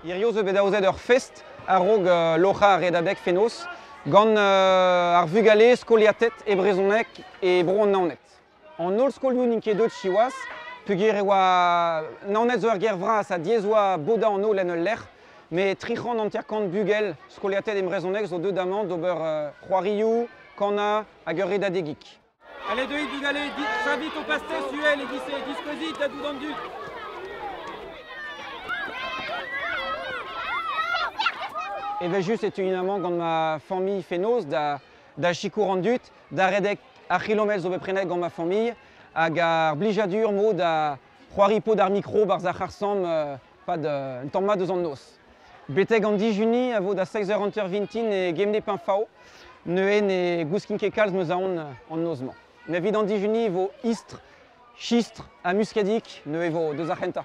Hirio zo bet aozet ur fest a-raok uh, loc'hañ ar redadeg fenoz gant uh, ar vugale skoliated e brezhoneg e bro an Naoned. An holl skolioù n'int ket deuet siwazh, peogwir e oa Naoned zo ur gêr vras ha diaes oa bodañ an holl en ul lec'h. Met tri c'hant hanter-kant bugel skoliated e brezhoneg zo deuet amañ d'ober c'hoarioù, kanañ hag ur redadegig. Allez deuit bugale, chavit ho pastez uhel e-giz diskouezit da tout an dud. Evel-just e teuin amañ gant ma familh fenoz da da sikour an dud, da redek ar c'hilometr zo bet prenet gant ma familh, hag ar blijadur-mo da c'hoari pod ar mikro barzh ar c'harr-samm pad un tamm mat eus an noz. Betek an dijuni a vo da 16h hanter-vintin e Gemne Pinfao. Neuze ne gouskin ket kalz meus aon an noz-mañ. Met evit an dijuni e vo istr, chistr ha muskadig, neuze e vo deus ar c'hentañ.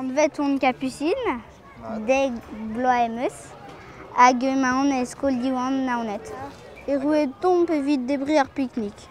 Anvet on kapusin, dek bloaz em eus, hag emaon e skol Diwan Naoned. Erruet omp evit debriñ ar piknik.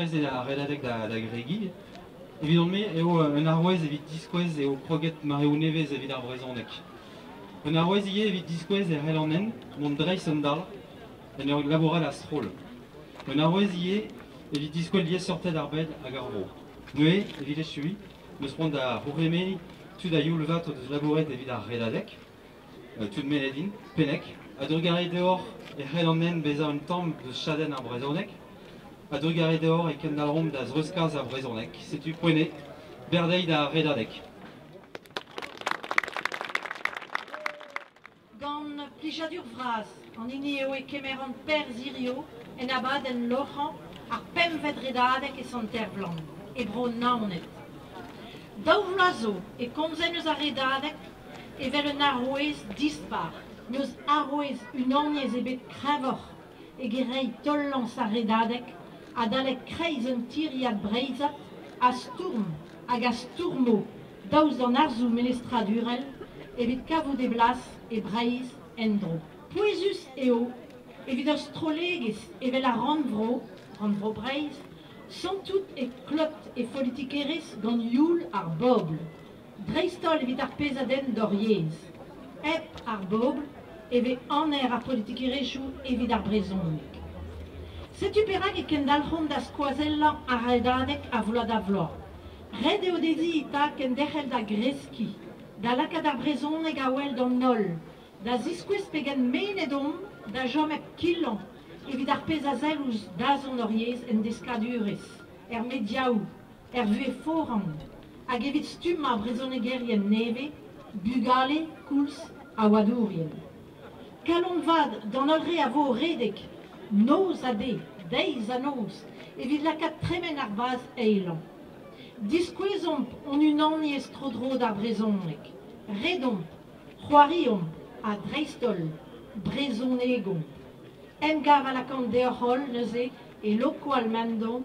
Prest eo ar redadeg da gregiñ. Evidon-me eo un arouez evit diskouez eo kroget mareoù nevez evit ar brezhoneg. Un arouez ivez evit diskouez e c'hell an hent mont dreist-an-darn en ur labourat a-stroll. Un arouez ivez evit diskouez liesseurted ar bed hag ar vro. Neuze, evit echuiñ, 'm eus c'hoant da c'hourc'hemenniñ tud a-youl vat o deus labouret evit ar redadeg. tud mennet int, penneg, a-drugarez deoc'h e c'hellan men bezañ un tamm deus chadenn ar brezhoneg. A-drugarez deoc'h e kendalc'homp da zreuzkas ar brezhoneg. Setu Poennet, berdeiz d'ar redadeg. Gant plijadur vras an hini eo e kemeran perzh hiziv en abadenn loc'hañ ar pempvet redadeg e Sant-Ervlan, e bro Naoned. Daou vloaz zo e komzen eus ar redadeg evel un arouez dispar, n'eus arouez unaniezh ebet kreñvoc'h eget reiñ taol-lañs ar Redadeg adalek kreiz un tiriad breizhat a stourm hag a stourmo daoust d'an arzoù melestradurel evit kavout e blas e Breizh en-dro. Pouezus eo evit ur strollegezh evel ar Rannvro, Rannvro Breizh, santout e klot e folitikerezh gant youl ar bobl, dreist-holl evit ar pezh a denn d'hor yezh. Hep ar bobl e vez aner ar politikerezhioù evit ar brezhoneg. Setu perak e kendalc'homp da skoazellañ ar redadeg a vloaz-da-vloaz. Ret eo dezhi eta kenderc'hel da greskiñ, da lakaat ar brezhoneg a-wel d'an holl, da ziskouez pegen mennet omp da chom hep kilañ evit ar pezh a sell ouzh dazont hor yezh en deskadurezh, er mediaoù, er vuhez foran hag evit stumm ar vrezhonegerien nevez, bugale koulz ha oadourien. Kalon vat d'an holl re a vo o redek noz ha de, deiz ha noz, evit lakaat tremen ar vazh eilañ. Diskouezomp hon unaniezh tro-dro d'ar brezhoneg, redomp, c'hoariomp ha dreist-holl brezhonegomp. Emgav a lakaomp deoc'h holl neuze e Lokoal Mendon